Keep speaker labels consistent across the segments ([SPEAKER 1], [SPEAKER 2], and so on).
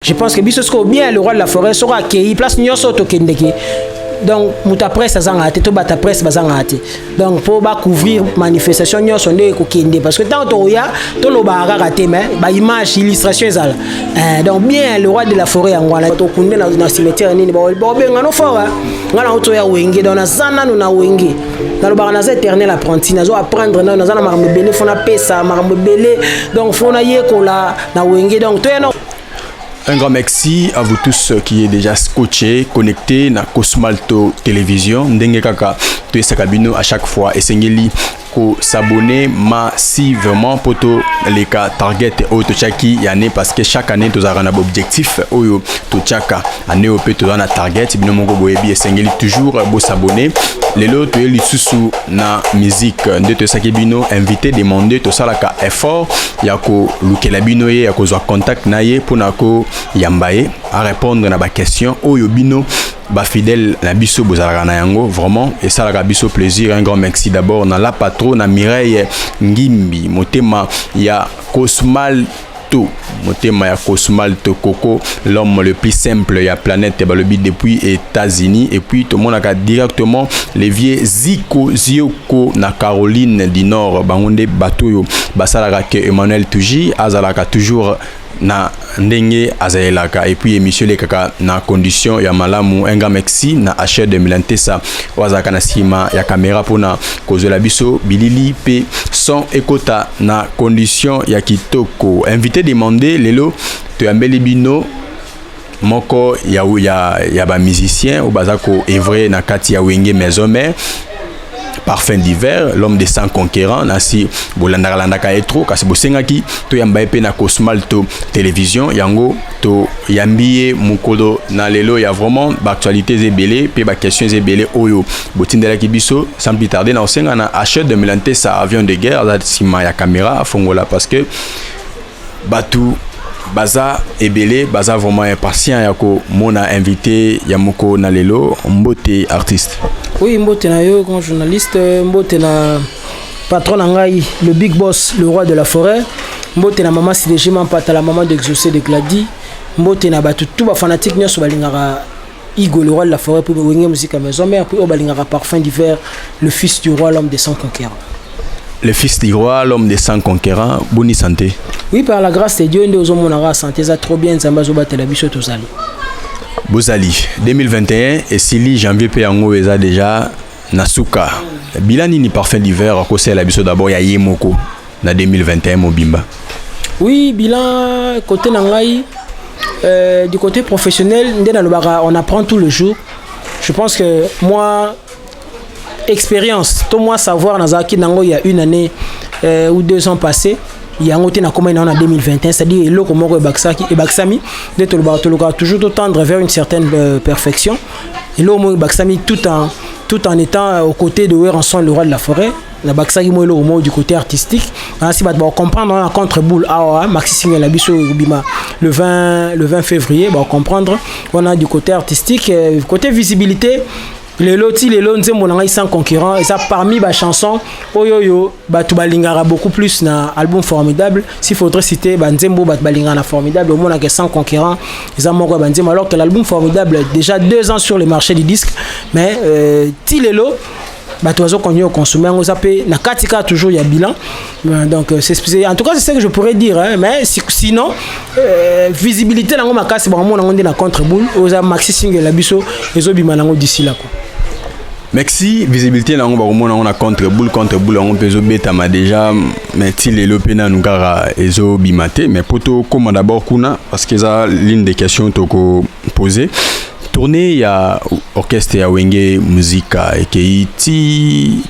[SPEAKER 1] je pense que biso sikoyo bien le roi de la forêt soko akei place nyonso oyo tokendeke donc moto ya presse azangaka te to bato ya presse bazangaka te donc mpo bacouvrir manifestation nyonso nde ekokende parce que ntango tokoya tolobaka kaka te mais baimage illustration ezala eh, donc bien le roi de la forêt yango wana tokunde na cimetière nini baobenga no fort ngai nango toya wenge donc naza nano na wenge nalobaka naza éternel apprenti nazo apprendre nano naza na makambo ebele fo napesa makambo ebele donc fo nayekola na wenge donc toya Un grand
[SPEAKER 2] merci à vous tous qui est déjà scotché, connecté na Cosmalto Télévision. Ndenge kaka to esaka bino à chaque fois esengeli ko s'abonner massivement poto les cas target oyo tochaki ya année parce que chaque année tozalaka na objectif oyo tochaka année oyo mpe toza na target bino moko boyebi esengeli toujours bo s'abonner lelo toye lisusu na musique nde toyesaki bino invité demande tosalaka effort ya kolukela bino ye ya kozwa contact na ye mpo na koyamba ye arépondre na baquestion oyo bino bafidèle na biso bozalaka na yango vraiment esalaka biso plaisir un grand merci d'abord na la patro na mireille ngimbi motema ya cosmal tout motema ya cosmal to coco l'homme le plus simple ya planète balobi depuis états-unis et puis tomonaka directement les vieux ziko zio ko na Caroline du Nord bango nde bato oyo basalaka ke Emmanuel Tuji azalaka toujours na ndenge azalelaka et puis emission elekaka na condition ya malamu un grand merci na achet de milantesa oyo azalaka na nsima ya kamera mpona kozwela biso bilili mpe son ekota na condition ya kitoko invité demande lelo toyambeli bino moko ya, ya, ya ba musiciens oyo baza ko evre na kati ya wenge maison mère parfum d'hiver l'homme de sang conquérant nasi bolandaka landaka ye trop kasi bosengaki toyamba ye mpe na cosmal to télévision yango toyambi ye mokolo na lelo ya vraiment baactualité eza ebele mpe baquestion eza ebele oyo botindelaki biso sans plus tarde na kosenga na achet de melantesa avion de guerre aza nsima ya caméra afongola parce que batu baza ebele baza vraiment impatient ya komona invité ya moko na lelo mbote artiste oui mbote na
[SPEAKER 1] yo grand journaliste mbote na patron na ngai le big boss le roi de la forêt mbote na mama sidegima mpata la maman d'exaucé de gladi mbote na bato tout bafanatique nyonso balingaka Igo le roi de la forêt puis wenge musique maison mère puis obalingaka parfum d'hiver le fils du roi l'homme des sans conquérants le fils
[SPEAKER 2] du roi l'homme des sans conquérants boni santé oui par la grâce
[SPEAKER 1] de Dieu nde ozomonaka santé eza trop bien nzambe azobatela biso tozali bozali
[SPEAKER 2] 2021 esili janvier mpe yango eza déjà Na suka, bilan nini Parfum du Vert akosala biso d'abord ya ye moko na 2021 mobimba? Oui,
[SPEAKER 1] bilan côté na ngai euh, du côté professionnel nde nalobaka on apprend tout le jour. Je pense que moi expérience to moi savoir nazalaki nango il y a une année euh, ou deux ans passés yango te nakomaki nango na 2021 c'est-à-dire eloko moko ebakisaki ebakisami nde tolobaka tolukaka toujours totendre vers une certaine euh, perfection eloko moko ebakisami tout en, tout en étant euh, aux côtés de Weranson le roi de la forêt nabakisaki mwa eloko moko du côté artistique nasi bato bacomprendre wana contre boule awa ah, maxi single na biso ekobima le 20, le 20 février bacomprendre wana du côté artistique euh, côté visibilité lelo ti lelo nzembo na ngai sans concurrent eza parmi bachanson oyo oyo bato balingaka beaucoup plus na album formidable S'il faudrait citer Banzembo, Balingana Formidable, au moins que sans concurrent, ils ont mort Banzembo, alors que l'album Formidable, déjà deux ans sur le marché du disque, mais euh, Tilelo, bato bazo continuer koconsommer yango eza mpe na kati kaka toujours ya bilan euh, donc euh, c'est en tout cas c'est ce que je pourrais dire hein, mais sinon euh, visibilité nango makasi bango mona yango nde na contre boule oyo eza maxi single na biso ezobima nango d'ici là quoi Merci
[SPEAKER 2] visibilité nango bakomona yango na contre boule contre boule yango mpe ezobetama déjà mais ti lelo mpe nanu kaka ezobima te mais mpo tokóma d'abord kuna parce que eza l'une des questions toko poser tournée ya orchestre ya wenge muzika ekei ti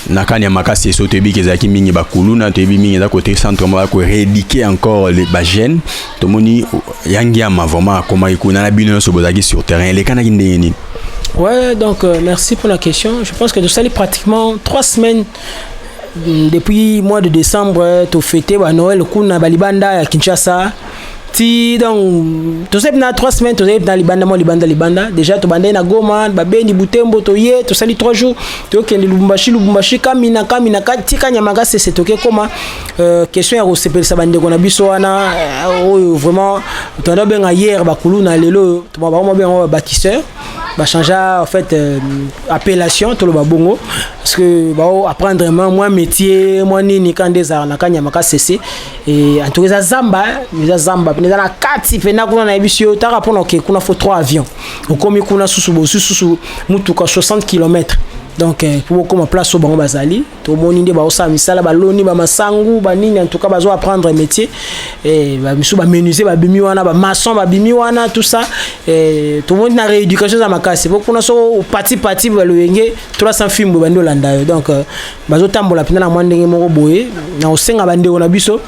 [SPEAKER 2] na kani ya makasi esoki toyebi ke ezalaki mingi bakuluna toyebi mingi eza kote centre moko ya koredike encore le bagene tomoni yangiama vraiment akomaki kuna na bino nyonso bozalaki sur terrain elekanaki ndenge nini Ouais, donc
[SPEAKER 1] euh, merci pour la question. Je pense que nous sommes pratiquement trois semaines mm, depuis mois de décembre, euh, tu fêté bah, Noël, kuna balibanda à Kinshasa. ti donc tozali mpe na trois semaines tozali mpe na libanda mwa libanda libanda déjà tobandai na goma babeni butembo toye tosali trois jours tokende lubumbashi lubumbashi kamina kamina tika nyamaka sese tokekoma euh, question ya kosepelisa bandeko na biso wana euh, oyo vraiment tanda obenga hier bakuluna lelo oyo bango babenga babakiseur bachangea en fait euh, appellation toloba bongo parce que bao apprendre mwa métier mwa nini kande ezalaka na kanyama ka sese Eh, en tout cas, Zamba, hein? eza Zamba, mais dans la kati, pena kuna na ebisi yo, tara pona ke kuna faut trois avions. Okomi kuna susu bo susu mutuka 60 km. donc eh, po bokoma place oyo bango bazali tomoni nde baosala misala baloni bamasangu banini en tout cas bazo apprendre métier eh, bamisu bamenuse babimi wana bamaçon babimi wana tout ça eh, tomoni na rééducation eza makasi po kuna so patipati baloyenge 300 fimbo bandi olanda yo donc bazotambola mpenza na mwa ndenge moko boye na kosenga bandeko na biso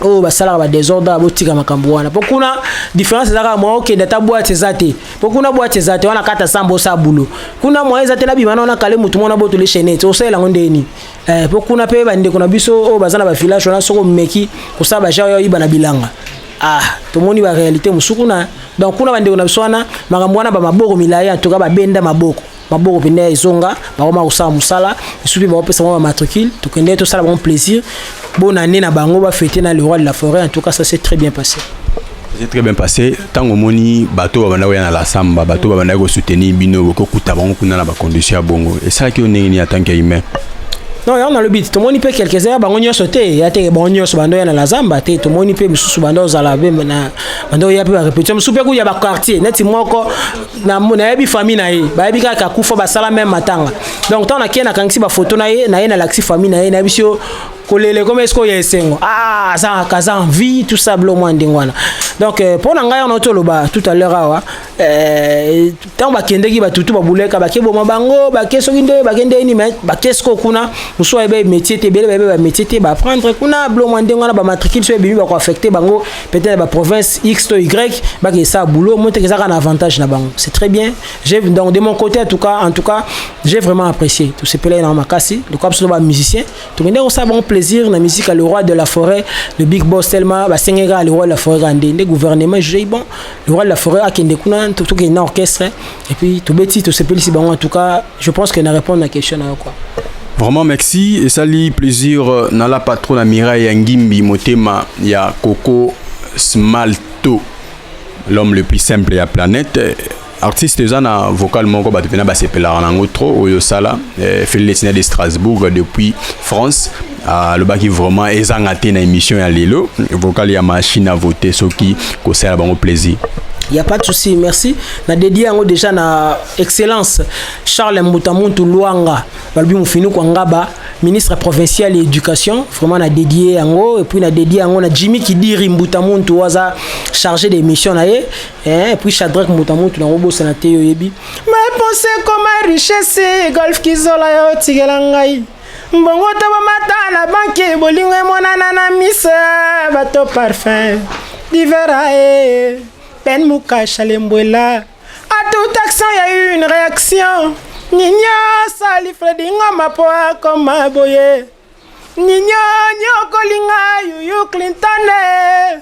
[SPEAKER 1] oyo basalaka badesordre ya botika makambo wana mpo kuna différence eza kaka mwa okende ata bwati eza te mpo kuna bwati eza te wana kata sambo osala bulo kuna mwa eza te nabima na wana kale motu mwana botole chainete osalela yango ndenge nini eh, mpo kuna mpe bandeko na biso oyo baza na bavillage wana soki omeki kosala bajar ya oyiba na bilanga ah tomoni baréalité mosusu kuna donc kuna bandeko na biso wana makambo wana bamaboko milai antuka babenda maboko maboko mpenza ezonga bakoma kosala mosala esu mpe bakopesa bango bamatricule tokende tosala bango plaisir bona nde na bango bafete na le roi de la forêt en tout cas ça c'est très bien passé c'est très bien
[SPEAKER 2] passé ntango omoni bato babandaki koya na lasamba bato babandaki kosoutenir bino boki okuta bango kuna na bacondition ya bongo esalaki yo ndenge nini atanke ya humain non yango
[SPEAKER 1] nalobi tomoni mpe quelques heures bango nyonso te ya te bango nyonso bando ya na la zamba te tomoni mpe mosusu bando ozala mpe na bando oya mpe barepetition mosusu mpe kuya baquartier neti moko na nayebi famille na ye bayebi kaka akufa basala meme matanga donc ntango nakei nakangisi bafoto na ye na ye nalakisi famille na ye nayebisi yo kolele ekoma esika oyo ya esengo ah, aza kaza envie tout ça bilo mwa ndenge wana donc euh, mpo na ngai wana toloba tout à l'heure awa euh, ntango bakendeki batutu babuleka bake boma bango bake soki nde bake nde nini mais bake siko kuna mosusu ayebe métier te ebele bayebe bamétier te baapprendre kuna bilo mwa ndenge wana bamatricule so ebimi bakoaffecte bango peut-être na ba province X to Y ba ke ça boulot moi te ke ça un avantage na bango c'est très bien j'ai donc de mon côté en tout cas en tout cas j'ai vraiment apprécié tout ce pela na makasi le quoi sur ba musicien tout monde ça bon plaisir la musique à le roi de la forêt le big boss tellement ba sengera le roi de la forêt grande le gouvernement j'ai bon le roi de la forêt a kende kuna tout tout un orchestre Et puis tobeti tosepelisi bango en tout cas je pense que na répondre na question na yo quoi. Vraiment merci
[SPEAKER 2] et sali plaisir euh, na la patronne na Mirai ya Ngimbi motema ya Coco Smalto l'homme le plus simple ya planète artiste eza na vocal moko bato mpena basepelaka nango trop oyo osala eh, felilesina de strasbourg depuis france alobaki vraiment ezanga te na émission ya lelo vocal ya machine à voter soki kosala bango plaisir il y a pas de souci
[SPEAKER 1] merci na dédié yango déjà na excellence Charles Mbuta Muntu Luanga balobi mufinu kwa ngaba ministre provincial ya éducation vraiment na dédié yango et puis na dédié yango na Jimmy Kidiri Mbuta Muntu waza chargé des missions na ye eh, et puis Shadrack Mbuta Muntu na obosa na te yoyebi mais pensez comme richesse golf kizola yo tigela ngai Mbongo to bomata na banki bolingo emonana na miso bato parfum divera e pen mukasha lembwela a tout action ya une réaction ninyo sali fredi ngoma po akoma boye ninyo nyokolinga yuyu clinton e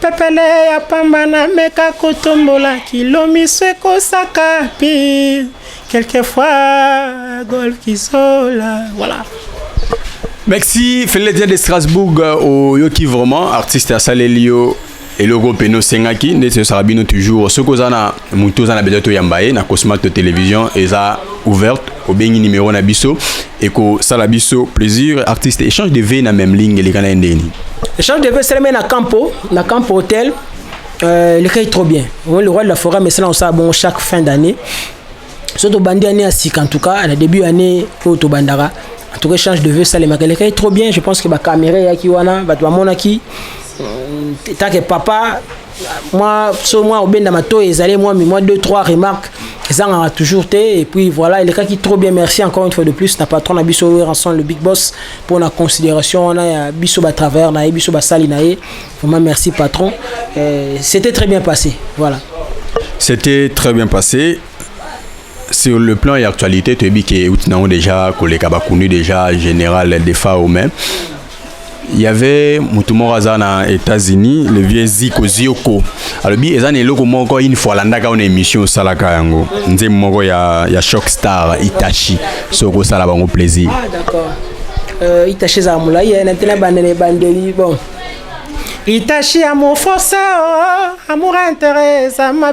[SPEAKER 1] Pepele ya pamba na meka kotombola kilo miso ekosaka pi quelquefois gol kizola voilà
[SPEAKER 2] merci feledien de strasbourg oyoki vraiment artiste asaleli yo eloko mpe nosengaki ndeti osaka bino toujours soki oza na moto oza na besoin toyamba ye na cosmat to télévision eza ouverte obengi numéro na biso ekosala biso plaisir artiste échange de vie na même ligne eleka na ye ndeni échange de vie esalemi
[SPEAKER 1] na campo na campo hôtel euh, eleka ye trop bien le roi de la forêt amesala kosala bongo chaque fin d'année so tobandi année ya sika en tout cas na début année oyo tobandaka en tout cas échange de vie esalemaka eleka ye trop bien je pense que bacaméra eyaki wana bato bamonaki euh, take papa Moi, so moi obenda mato ezali moi mais moi deux trois remarques ezangaka toujours te et puis voilà il qui trop bien merci encore une fois de plus na patron na biso ranson le big boss pour la considération on a biso ba travailleur na ye biso ba sali na ye vraiment merci patron euh, c'était très bien passé voilà c'était
[SPEAKER 2] très bien passé sur le plan et actualité tu as dit que outinango déjà koleka bakunu déjà général defa au même Il y avait Mutumora Zana États-Unis, le vieux Ziko Zioko. Alors, bien, ils ont eloko moko une fois landaka on émission salaka yango. Nze moko ya ya Shock Star Itachi. Soko sala bango plaisir. Ah d'accord.
[SPEAKER 1] Euh, Itachi za mulai, il y a un tena bandele bandeli bon. Itachi amour forcé, oh, amour intérêt, ça m'a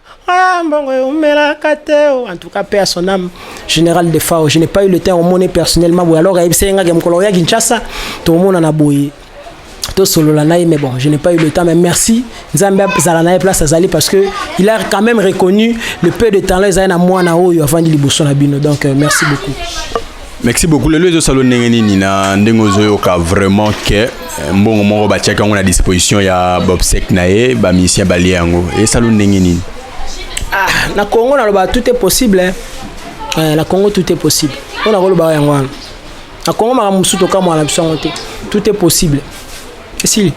[SPEAKER 1] Ah, mbongo eumelaka te oh. en tout cas paix à son âme général de fao je n'ai pas eu le temps omone personnellement boye alors ayebisaki ngaki mokolo oya kinshasa tomonana boye tosolola na ye mais bon je n'ai pas eu le temps mais merci nzambe azala na ye place azali parce que il a quand même reconnu le peu de talent ezali na mwana oyo avandi liboso na bino donc euh, merci beaucoup merci
[SPEAKER 2] beaucoup lelo ezosala ndenge nini na ndenge ozoyoka vraiment ke eh, mbongo moko batiaki yango na disposition ya bobsec na ye bamisien balie yango esala ndenge nini ah,
[SPEAKER 1] na congo naloba tout est possible hein. eh, na congo tout est possible oyo nakolobaka yango wana na congo makambo mosusu tokamwana biso yango te tout est possible esili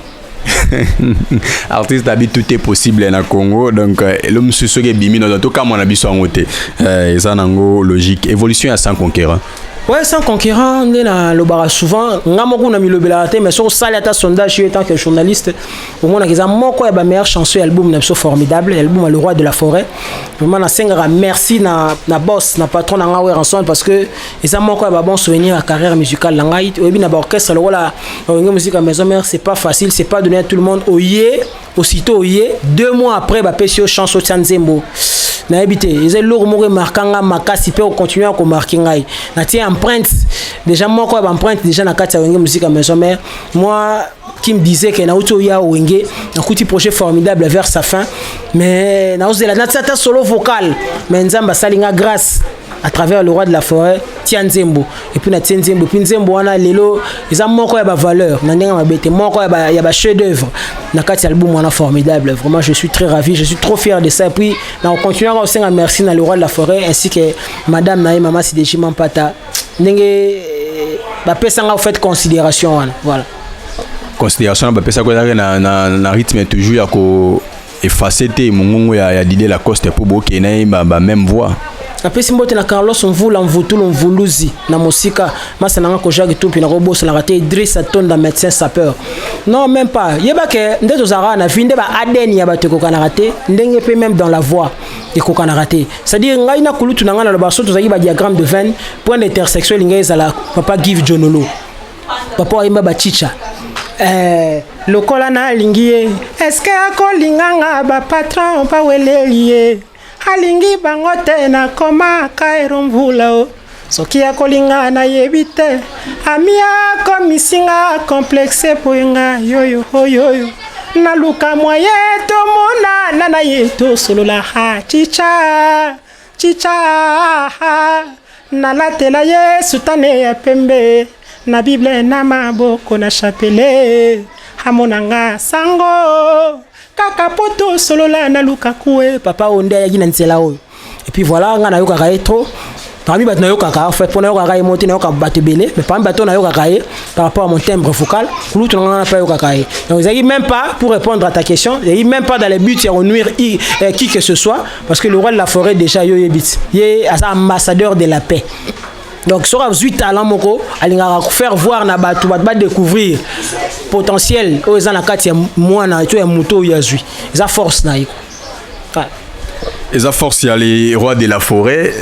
[SPEAKER 2] artiste abi tout est possible na congo donc euh, elo mosusu soki ebimi naza tokamwa na biso yango te euh, eza nango logique évolution ya sans conquérant ouais sans
[SPEAKER 1] conquérant nde nalobaka souvent nga moko namilobelaka te mais soki osali ata sondage yo etant que journaliste omonaka eza moko ya bameilleur chanson ya album na biso formidable ya album ya le roi de la forêt vraiment nasengaka merci na, na boss na patron na nga weranson parce que eza moko ya ba bon souvenir ya carrière musicale na ngai oyebi na ba orchestre lokola oyenge musique ya maison mère c'est pas facile c'est pas donné à tout le monde oye aussitôt oye deux mois après bapesi yo chance otya nzembo nayebi te eza eloko moko emarka nga makasi mpe okontinue ya komarke ngai natie empreinte déjà moko ya baempreinte déjà na kati ya wenge musique ya maison mère moi qui me disait que nauti oya wenge nakuti projet formidable vers sa fin mais naozela natia ata solo vocal mais nzambe asali nga grâce à travers le roi de la forêt tia nzembo epuis na tie nzembo epuis nzembo wana lelo eza moko ya bavaleur na ndenge mabe te moko ya bachef d'oeuvre na kati ya album wana formidable vraiment je suis très ravi je suis trop fier de ça epuis na kocontinue kaka kosenga merci na le roi de la forêt ainsi que madame na ye mama sideji mampata ndenge eh, bapesanga ofait considération wana voilà considération
[SPEAKER 2] na bapesaki ezalaki na rythme toujours ya ko efface te mongongo ya, ya Didier Lacoste mpo bokei na ye ba, ba même voix napesi mbote na
[SPEAKER 1] carlos mvula mvutulu mvuluzi na mosika masa nanga koja kitumpi nakobosanaka te idris atonda médecin sapeur non même pas yeba ke nde tozalaka na vie nde ba adn ya bato ekokanaka te ndenge mpe même dans la voix ekokanaka te c'est-à-dire ngai na kulutu na ngai naloba so tozalaki ba diagramme de veine point d'intersection elingai ezala papa give jonolo papa ayemba bachicha eh, lokola nalingi ye eske akolinga nga bapatron baweleli ye alingi bango te nakoma kaero mvula o soki akolinga nayebi te ami akomisi nga komplexe mpo nga yoyo oyoyo naluka mwaye tomonana na ye tosolola ha chicha Chicha nalatela Yesu tane ya pembe na Bible na maboko na chapele amona nga sango kaka po tosolola na lukakue papa oyo nde ayaki na nzela oyo epuis voilà nga nayokaka ye trop parmi bato nayokaka en fait mpo nayokaka ye moti nayokaka bato ebele mais parmi bato nayokaka ye par rapport à mon timbre vocal kulutu na ngana mpe ayokaka ye donc ezalaki même pas pour répondre à ta question ezalaki même pas dans le but ya konuire euh, qui que ce soit parce que le roi de la forêt déjà yo yebi ti ye aza ambassadeur de la paix donc soki azwi talent moko alingaka faire voir na bato bato badécouvrir potentiel oyo eza na kati ya mwana to ya moto oyo azwi eza force na ye
[SPEAKER 2] eza force ya le roi de la forêt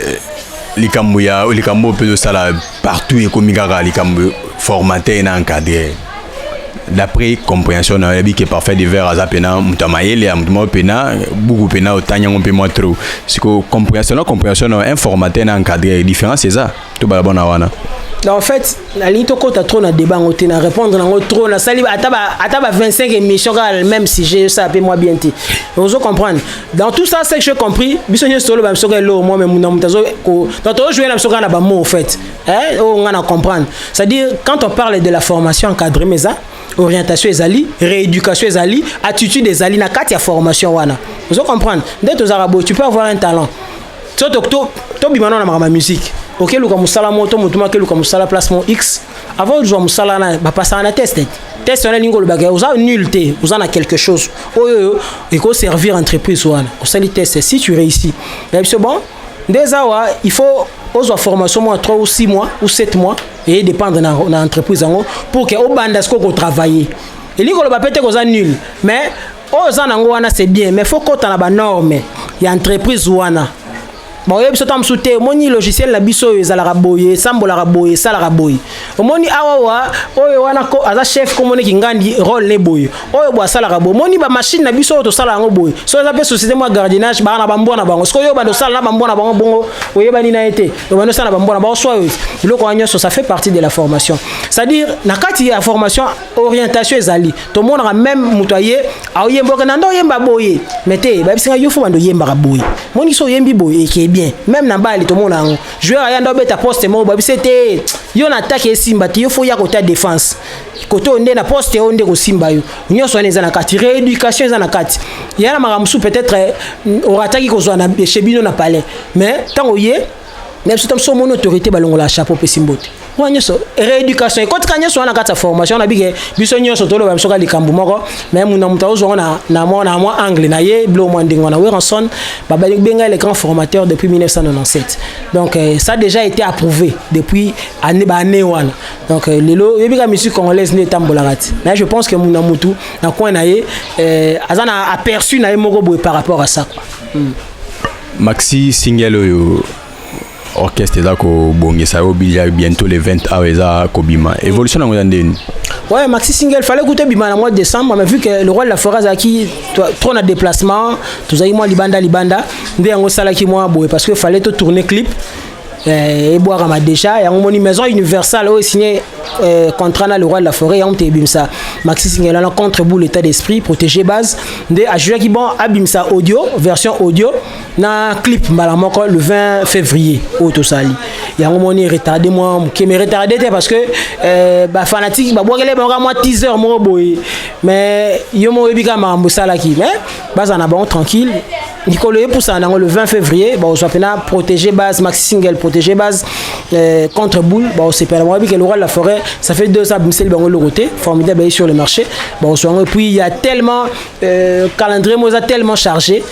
[SPEAKER 2] likambo ya likambo oyo mpe tosala partout ekomi kaka likambo formater na encadrer d'après comprehension na oyebi ke parfait de verre aza mpena moto ya mayele ya moto moko mpena buku mpena otangi yango mpe mwa trop siko comprehension na comprehension na informateur na encadre différence eza tobala bona wana en fait
[SPEAKER 1] nalingi tokɔta trop na débat yango te na répondre nango trop nasali ata ba 25 émission kaka le même sujet osala mpe mwa bien te ozo comprendre dans tout ça ce que j'ai compris biso nyonso toloba biso kaka eloo mwa me na moto azo donc tozojoue na biso kaka na bamo au fait Eh, oh, on a comprendre. C'est-à-dire, quand on parle de la formation encadrée, mais ça, orientation ezali rééducation ezali attitude ezali na kati ya formation wana ozo comprendre nde tozalaka boye tu peux avoir un talent so tobima nao na makambo ya musique okeluka mosala moko to motu makeluka mosala place mo x avant ozwa mosala wana bapasaka na test test wana elingi olobaka oza nul te oza na quelque chose oyo oyo ekoservir entreprise wana osali test si tu réussi na biso bon nde eza awa il faut ozwa formation mwa 3 ou 6 mois ou 7 mois eye dépendre na, na entreprise yango pour ke obanda sikoyo kotravaille elingi koloba mpe te koza nul mais oyo oza nango wana c'est bien mais faut kota na banorme ya entreprise wana baoyebi biso ta mosusu te omoni logiciel na biso oyo ezalaka boye esambolaka boye esalaka boye omoni awa wa oyo wana ko aza chef komone kingandi role ne boye oyo bo asalaka boye omoni bamashine na biso oyo tosala yango boye so eza mpe société mwa gardiennage baa na bambwa na bango sikoyo obanda osala na bambwa na bango bongo oyebani na ye te obanda osala na bambwa na bango swa biloko wana nyonso ça fait partie de la formation c'est-à-dire na kati ya formation orientation ezali tomonaka meme moto aye aoyemba oke na nda oyemba boye mais te bayebisinga yo fo banda oyembaka boye moni so oyembi boye eke bien meme na bali tomona yango joueur aya nde obeta poste moko bayebi se te yo na atake esimba te yo fo ya kota défense kote oyo nde na poste oyo nde kosimba yo nyonso wana eza na kati rééducation eza na kati ya na makambo mosusu peut-être eh, orataki kozwa na chez bino na palais mais ntango oye na biso ta mosusu omoni autorité balongola chapeau opesi mbote wana nyonso rééducation ekotika nyonso wana kati ya formation na bike biso nyonso toloba biso ka likambo moko mais muna moto aozwango na, na, mwa, na mwa angle na ye bilo mwa ndenge wana weranson babenga le grand formateur depuis 1997 donc euh, ça déjà été approuvé depuis année baannée wana donc euh, lelo oyebi ka musique congolaise nde etambolaka ti mais je pense que muna motu na coin na ye euh, aza na aperçu na ye moko boye par rapport à ça quoi mm.
[SPEAKER 2] maxi single oyo orchestre eza kobongisa yo obija bientôt le 20 awa eza kobima évolution nango eza ndeni ouais maxi single
[SPEAKER 1] fallait kuta ebima na mois de décembre mais vu que le roi de la forêt azalaki trop na déplacement tozalaki mwa libanda libanda nde yango esalaki mwa boye parce que fallait totourne clip eh, ebwakama déjà yango moni maison universelle oyo signe eh, contrat na le roi de la forêt yango te ebimisa maxi singela na contre boule état d'esprit protégé base nde ajouaki bon abimisa audio version audio na clip mbala moko le 20 février oyo tosali yango moni retardé mwa moke mais retardé te parce que euh, bafanatike babwakele bango kaka mwa teaser moko boye mais yo moko oyebi kaka makambo esalaki mais bazala na bango tranquille mikolo epusana nango le 20 février bakozwa mpena protéger base max single protéger base euh, contre boule bakosepela bango yebike loral la forêt ça fait deux ans abimiseli bango eloko te formidable aye sur le marché bakoswa yango epuis ya tellement euh, calendrier moko eza tellement chargé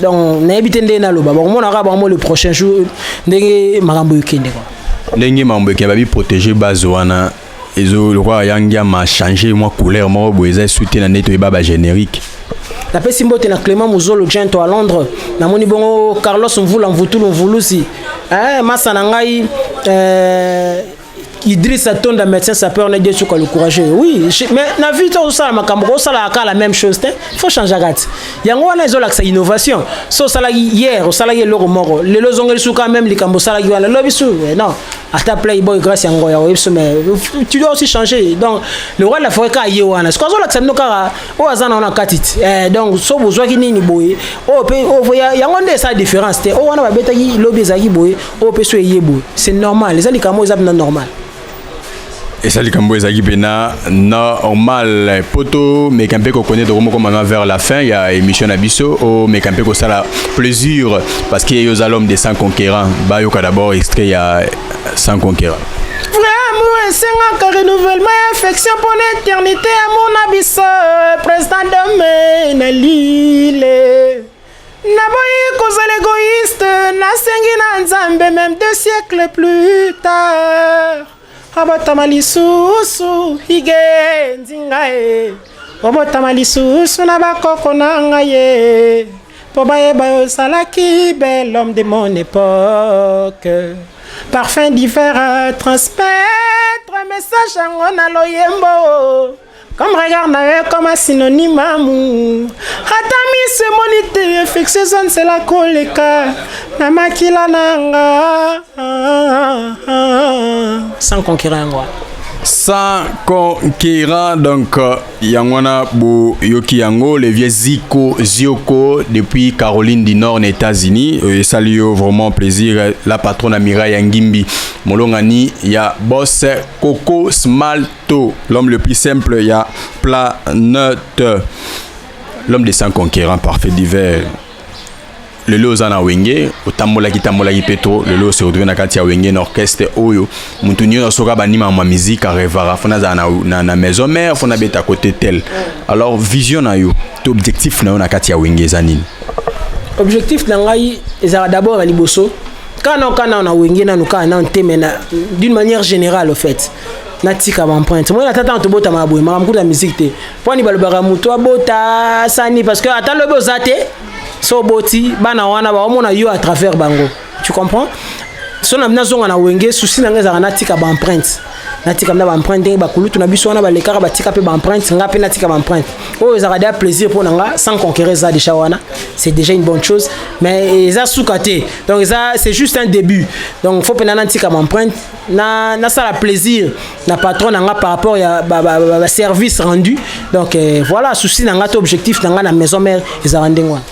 [SPEAKER 1] donc nayebi te ndenge naloba bakomona kaka bango le prochain jour ndenge makambo ekende kwa ndenge makambo ekende babi
[SPEAKER 2] protege base wana ezo lokola yangi ya ma changer mwa couleur moko boye eza esu te na ndenge toyeba ba générique napesi
[SPEAKER 1] mbote na clément mozolo gento à londres namoni bongo carlos mvula mvutulu mvulusi eh, masa na ngai eh, Idriss Atonda médecin sapeur na Dieu le courageux. Oui, je, mais na vie to sala makambo ko sala ka la même chose te. Faut changer kat. Yango wana ezo lakisa innovation. So sala hier, sala ye loko moko. Lelo zongeli suka même likambo sala ki wana lobi su. Eh, non. Ata playboy grâce ya ngoya oyebi so mais tu dois aussi changer. Donc le roi de la forêt ka ye wana. Ce qu'on zo lakisa no kara o azana wana katit. Eh donc so bozwa ki nini boye. O pe o voya yango nde sa différence te. O wana ba betaki lobi ezaki boye. oyo mpe so eye boye c'est normal eza likambo eza mpena normal
[SPEAKER 2] eza likambo ezalaki mpena normal mpo tomeka mpe kokone toko moko mama vers la fin ya émission na biso omeka mpe kosala plaisir parce que yo oza l'homme de sans conquérant bayoka d'abord extrait ya sans conquérant
[SPEAKER 1] esengaka renouvellement ya affection mpo na eternité ya mona biso président dome na lile Naboyi kozala egoïste, nasengi na Nzambe meme deux siècles plus tard. Abotama lisusu hige nzinga e. Obotama lisusu na bakoko na ngai ye. Mpo bayeba yo ozalaki bel homme de mon époque. Parfum d'hiver transmettre message yango na loyembo. Comme regard na yo comme synonyme amour Ata miso emoni te infection eza nzela koleka na makila na nga Sans conquérant yango sans
[SPEAKER 2] conquérant donc euh, yango wana boyoki yango le vieux ziko zioko depuis caroline du nord na états-unis euh, esali yo vraiment plaisir euh, la patronne amira ya ngimbi molongani ya boss coco smalt To l'homme le plus simple ya planète. L'homme des sans conquérants parfait divers. lelo oza na wenge otambolaki tambolaki mpe to lelo ose otwe na kati ya wenge na orchestre oyo motu nyonso soki abandi mama miziki arevaka fona azala na, na, na maison mare fona abeta kote tel alors vision na yo to objectif na yo na kati ya wenge eza nini objectif
[SPEAKER 1] na ngai ezalaka d'abord ya liboso kaka nao kaka nao na wenge nanu kaka nao te mais d'une manière générale au fait natika baemprinte moi na tata na tobotama ya boye makambo kutu ya miziki te mpo ani balobaka motu abota sani parce que ata lobi oza te so oboti bana wana baomona yo à travers bango tu comprends so na nazonga na wenge susi na ngai ezalaka natika baemprinte natika mna baemprinte ndenge bakulutu na biso wana balekaka batika mpe baemprinte ngai mpe natika baemprinte oyo ezalaka deja plaisir mpo na nga sans conquérir eza deja wana c'est déjà une bonne chose mais eza suka te donc eza c'est juste un début donc faut mpena natika baemprinte na nasala plaisir na patron na nga par rapport ya ba, ba, ba, ba service rendu donc euh, voilà souci na nga to objectif na nga na maison mère ezala ndenge wana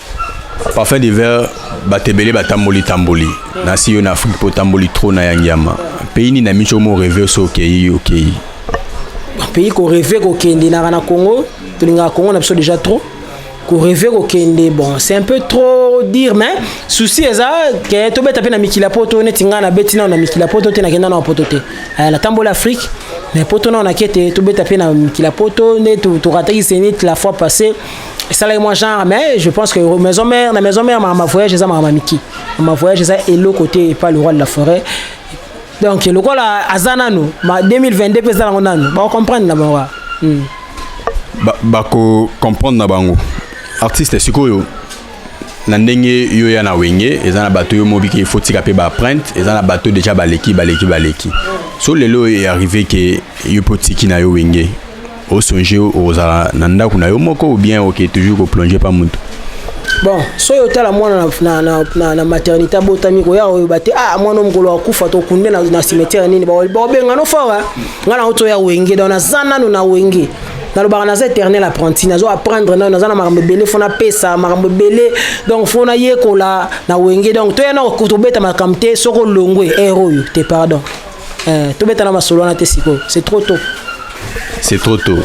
[SPEAKER 1] parfum d'hiver
[SPEAKER 2] bato ebele batamboli tamboli nasi yo na afrique mpo otamboli trop na yangiama pays nini na miso mo reve oso okei okei
[SPEAKER 1] pays koreve kokende naka na congo tolingaka congo na biso déjà trop ko rêver ko kende bon c'est un peu trop dire mais souci eza que to beta pe na mikila poto neti nga na beti na na mikila poto te na kenda na poto te euh, la tambola afrique mais poto na na kete to beta pe na mikila poto ne to to rataki zenith la fois passée ça là moi genre mais je pense que maison mère la maison mère ma voyage eza ma miki ma voyage eza elo côté pas le roi de la forêt donc lokola aza nanu ma 2022 mpe eza nango nanu bacomprendre na bango hmm.
[SPEAKER 2] bacomprendre na bango artiste sikoyo na ndenge yo ya na wenge eza na bato yo mobiki il faut tika mpe baprinte eza na bato deja baleki baleki baleki so lelo oyo earrive ke yo mpe otiki na yo wenge o songe okozala na ndako na yo moko ou bien oke toujours ko plonger pa mutu bon
[SPEAKER 1] soki otala mwana na, na, na, na, na maternité abotami koya koyeba te ah mwana mokolo akufa tokunde na, na cimetière nini bakobenga no fawa ngai na otoya wenge donc naza nano na wenge nalobaka naza éternel apprenti nazo apprendre nayo naza na makambo ebele fo napesa makambo ebele donc fo nayekola na wenge donc toya na kobeta makambo te soko olongwe ere oyo te pardon Eh, tobeta na masolo wana te sikoyo c'est trop tôt c'est trop
[SPEAKER 2] tôt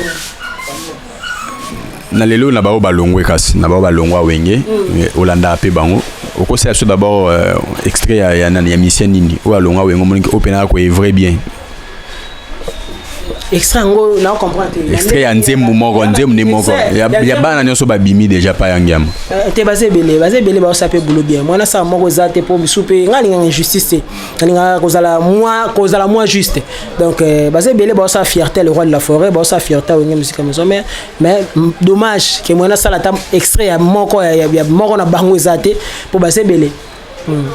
[SPEAKER 2] na lelo na baoyo balongwe kasi na baoyo balongwa wenge mm. olandaka mpe bango okosala biso d'abord euh, extrait ya, ya, ya misien nini oyo alongwa wenge omoniki oyo mpe naka koevre bien
[SPEAKER 1] extrait yango na comprendre te extrait ya nzembo
[SPEAKER 2] moko nzembo nde moko ya bana nyonso babimi déjà pa ya ngiama euh, te baza ebele
[SPEAKER 1] baza ebele baosa mpe bulo bien mwana saa moko eza te mpo bisu mpe ngai alingaka injustice te alingaka kozala mwa kozala mwa juste donc euh, baza ebele baosala fierté le roi de la forêt baosala fierté awenge mosika mozo mais mais dommage ke moyen asala ata extrait ya moko ya, ya, ya moko na bango eza te mpo baza ebele hmm.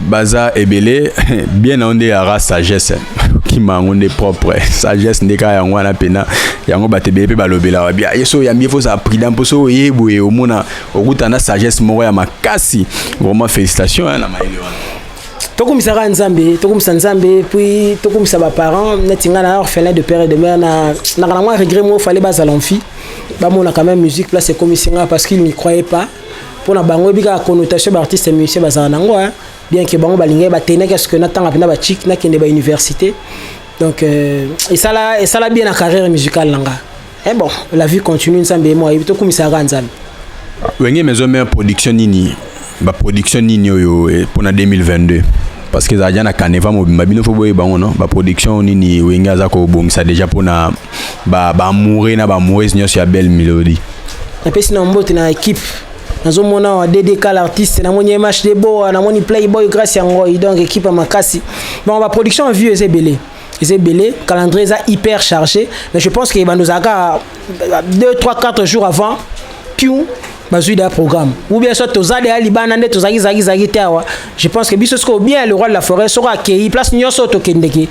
[SPEAKER 2] baza ebele bien na yo nde yara sagesse kokima yango nde propre sagesse nde kaka yango wana mpena yango bato ebele mpe balobelaka bia ye so oyambi ye fo ozala prudent mpo so oye boye omona okuta na sagesse moko ya makasi vraiment félicitation hein, na mayele wana tokumisaka
[SPEAKER 1] nzambe tokumisa nzambe puis tokumisa baparent neti ngai na orphelin de père et de mère na naka na mwa regret moko fale bazala mfi bamona quand même musique place ekomisi ngai parce qu'il n'y croyait pas mpo na bango ebi kaka connotation baartiste musicien bazala na yango bien que bango balingaki batenaki ya soki natanga mpena bachik nakende bauniversité donc euh, esala, esala bien na carrière musicale na ngai Eh bon, la vie continue nzambe ye moyebi tokumisaka kaka nzambe wenge
[SPEAKER 2] maison mère production nini baproduction nini oyo eh, mpo na 2022 parce que ezala ja na caneva mobimba bino fo boyeba yango no baproduction nini wenge aza kobongisa déjà mpo na baamoure
[SPEAKER 1] na
[SPEAKER 2] baamourese
[SPEAKER 1] nyonso
[SPEAKER 2] ya belle
[SPEAKER 1] melodie
[SPEAKER 2] napesi na mbote
[SPEAKER 1] na
[SPEAKER 2] équipe nazomona
[SPEAKER 1] awa ddk l'artiste namoni mh deboa namoni playboy grace ya ngoi donc équipe ya makasi bon baproduction ya vieux eza ebele eza ebele calendrier eza hyper chargé mais je pense que bando ozalaka 2 3 4 jours avant piu bazwi da programme ou bien soit toza deya libanda nde tozalaki zalaki zalaki te awa je pense que biso sikoyo bien le roi de la forêt soko akei place nyonso oyo tokendeke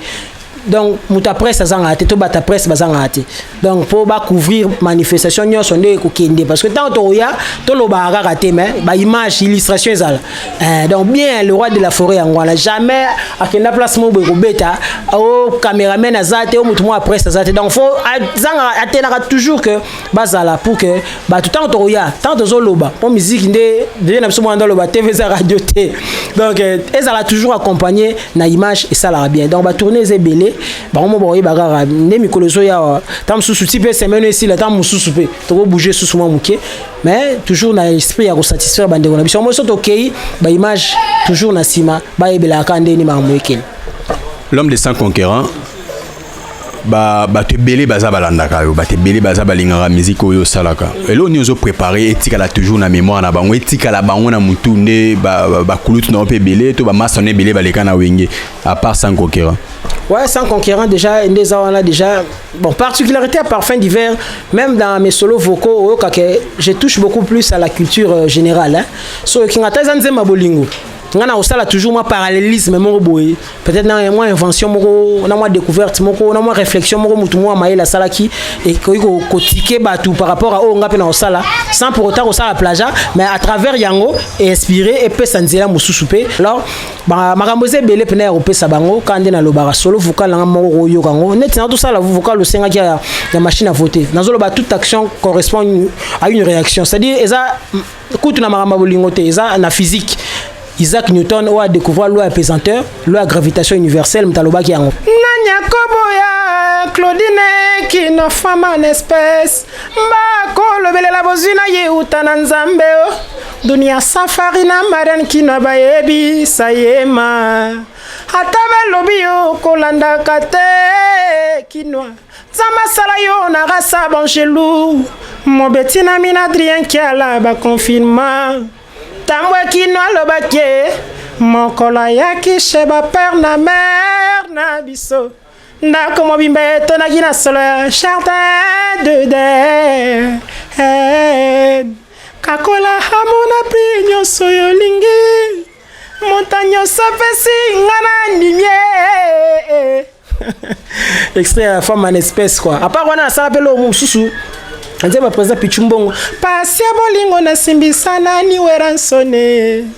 [SPEAKER 1] donc moto ya presse azangaka te to bato ya presse bazangaka te donc mpo bacouvrir manifestation nyonso nde ekokende parce que ntango tokoya tolobaka kaka te mais baimage illustration ezala eh, donc bien le roi de la forêt yango wana jamais akenda place moko boye kobeta o oh, cameraman aza te o oh, motu moko apresse aza te donc fo azanga atelaka toujours que bazala pour que bato ntango tokoya ntango tozoloba mpo miziki nde vie na biso mwana nde aloba tv eza radio te donc eh, ezala toujours accompagné na image esalaka bien donc batourne eza ebele bango mo bakoyeba kaka nde mikolo ezoyawa ntango mosusu ti mpe semaine esila ntango mosusu mpe tokobouge susu mwa moke mais toujours na esprit ya kosatisfaire bandeko na biso yango biso tokei baimage toujours na nsima bayebelaka kaka ndeni makambo ekeli l'homme de
[SPEAKER 2] sans conquérant bato ebele baza balandaka yo bato ebele baza balingaka miziki oyo osalaka eloko nini ozo prépare etikala toujours na mémoire na bango etikala bango na motu nde bakulutu na yo mpe ebele to bamasta na ebele baleka na wenge à part sans conquérant ouais sans conquérant
[SPEAKER 1] déjà nde eza wana déjà bon particularité ya parfum d'hiver même dans mes solos vocaux oyokaka je touche beaucoup plus à la culture euh, générale hein. so oyoki nga ata eza nzemba bolingo ngai nakosala toujours mwa parallélisme moko boye peut-être na mwa invention moko na mwa découverte moko na mwa réflexion moko motu moko ya mayele asalaki ekoki kotike bato par rapport a oyo ngai mpe nakosala sans pour autant kosala plaja mais à travers yango einspire epesa nzela mosusu mpe alors ba makambo eza ebele mpena ya kopesa bango kaka nde nalobaka solo vocal nanga moko koyoka yango neti na tosala vocal osengaki ya, ya machine à voter nazoloba toute action correspond une, à une réaction c'est à dire eza kutu na makambo ya bolingo te eza na physique isaac newton oyo adécouvrir loi ya pesanteur loi ya gravitation universelle moto alobaki yango nani akoboya claudine kinofama na espèce bakolobelela bozwi na ye uta na nzambe o oh. dunia safari na marian kino bayebisa ye ma ata balobi yo kolandaka te kinwa nzambe asala yo na rasa bangelu mobeti na mina adrien kiala bakonfirma ntango ekino alobaki mokolo ayaki chez bapere na mere na biso ndako mobimba etonaki na solo ya charte de den kakola hamona mpe nyonso oyo olingi moto nyonso apesi nga na ndimie extrait ya femme en espèce quoi apart wana asala mpe loo mosusu nzemba président pichu mbongo pasi ya bolingo nasimbisa nani weransone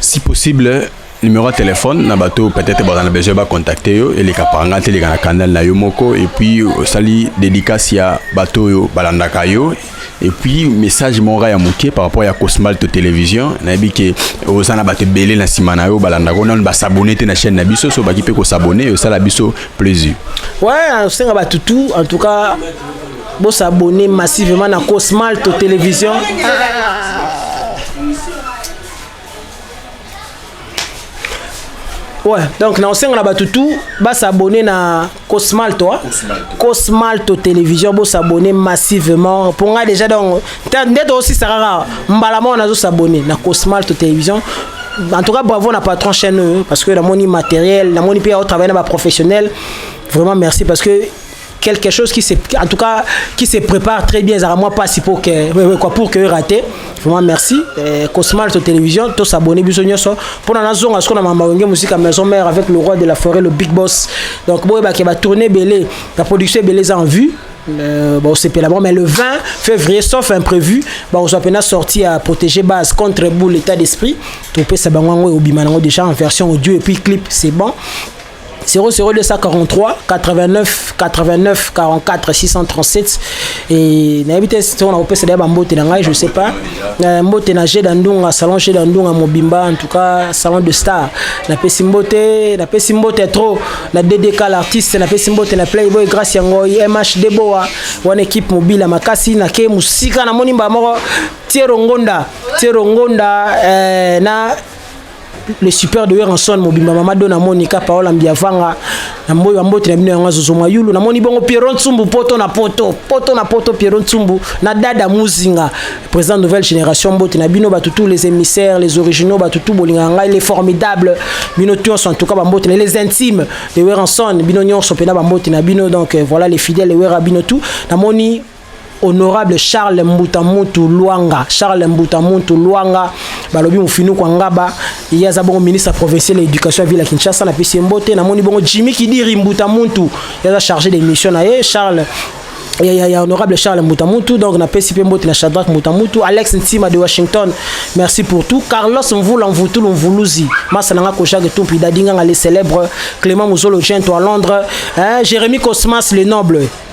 [SPEAKER 2] si possible numéro ya telefone na bato peut-être baza na besoin bacontacte yo eleka panga te eleka na canal na yo moko epuis osali dédicace ya bato oyo balandaka yo epuis message moko ya moke par rapport ya cosmal to télévision nayebi ke oza na bato ebele na nsima na yo balandaka nanu basabone te na chaîne na biso so baki mpe kosabone osala biso plaisir ouais osenga
[SPEAKER 1] bato tout en tout cas Bo s'abonner massivement na Cosmalto Télévision. Ouais, donc na osenga na bato tout ba s'abonner na Cosmalto, hein? Cosmalto. Cosmalto Télévision bo s'abonner massivement. Pour nga déjà donc ndete aussi sarara mbala moko nazo s'abonner na Cosmalto Télévision. En tout cas bravo na patron chaîne euh, parce que namoni matériel, namoni pe au travail na ba professionnels. Vraiment merci parce que quelque chose qui se en tout cas qui se prépare très bien ezalaka mwa mpasi pour que euh, euh, quoi pour que erate vraiment merci euh, cosmal to télévision to s'abonner biso nyonso mpona nazonga sikoyo na mama wenge mosika maison mère avec le roi de la forêt le big boss donc boyebake batourne ebele la production ebele eza en vue Euh, bon, c'est là mais le 20 février, sauf imprévu, bon, on soit sorti à protéger base contre boule l'état d'esprit. Tout peut ça, au bimanango déjà en version audio et puis clip, c'est bon. 00243 89 89 44 637 et nayebi te soki nakopesa deya bambote na ngai je sais pas euh, mbote na jeda ndunga salon jeda ndunga mobimba en tout cas salon de star napesi mbote napesi mbote trop na ddk l'artiste napesi mbote na playboy grace ya ngoi mh deboa wana équipe mobila makasi nake mosika namoni mbala moko tiero ngonda tiero ngonda euh, na le super de Werrason mobimba mama dona Monica Paola Mbiavanga na mboyo ya mbote na bino yango azozo mwa yulu namoni bongo Pierrot Nsumbu poto na poto poto na poto Pierrot Nsumbu na dada Muzinga président nouvelle génération mbote na bino batu tous les émissaires les originaux batu tout bolinga ngai les formidables bino tous en tout cas ba mbote na les intimes de Werrason bino nyonso pena ba mbote na bino donc euh, voilà les fidèles de Werra bino tout namoni honorable charles mbuta mutu luanga charles mbuta mutu luanga balobi mofinuku angaba ye aza bongo ministre provincial ya éducation ya ville ya kinshasa na pesi ye mbote namoni bongo jimi kidiri mbuta mutu ye aza chargé de mission na ye charles ya, ya, ya honorable charles mutamutu donc napesi mpe mbote na shadrack mutamutu alex ntima de washington merci pour tout carlos mvula mvutulu mvuluzi masa na nga kojage tumpi dadinganga le célèbre clément muzolo gento à londres hein, jérémi cosmas le noble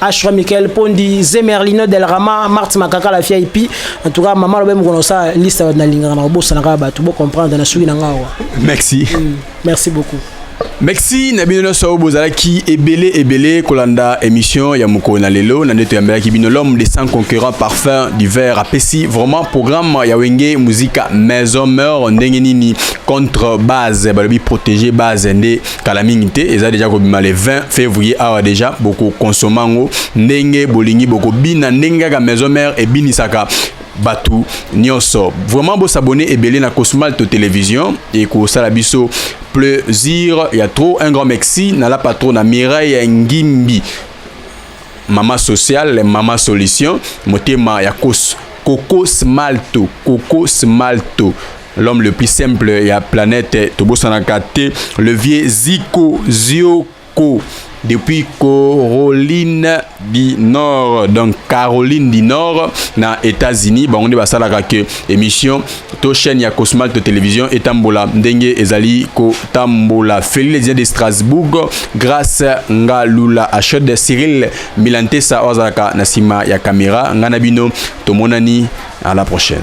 [SPEAKER 1] Ashra Michael Pondi, Zemerlino Del Rama, Marti Makaka la VIP. En tout cas, maman lobe mukona sa liste na lingana na bosa na ka batu bo comprendre na suki na ngawa. Merci. Mm,
[SPEAKER 2] merci beaucoup.
[SPEAKER 1] Merci na
[SPEAKER 2] bino nyonso oyo bozalaki ebele ebele kolanda émission ya mokolo na lelo na nde toyambelaki bino l'homme de sans concurrent parfum du verre apesi vraiment programme ya wenge muzika maison meur ndenge nini contre base balobi protégé base nde kala mingi te eza deja kobima le 20 février awa deja bokokonsoma yango ndenge bolingi bokobina ndenge kaka maison mère ebinisaka bato nyonso vraiment bosabone ebele na cosmalto télévision ekosala biso plaisir ya trop un grand merci na la patrona mireille ngimbi mama sociale mama solution motema ya kos kokos malto kokos malto l'homme le plus simple ya planète tobosanaka te le vieux ziko zioko depuis Caroline du Nord donc Caroline du Nord na États-Unis bango nde basalaka ke émission to chaîne ya Cosmal to télévision etambola ndenge ezali kotambola Feli les de Strasbourg grâce nga lula achod Cyril Milantesa oyo azalaka na nsima ya kamera nga na bino tomonani à la prochaine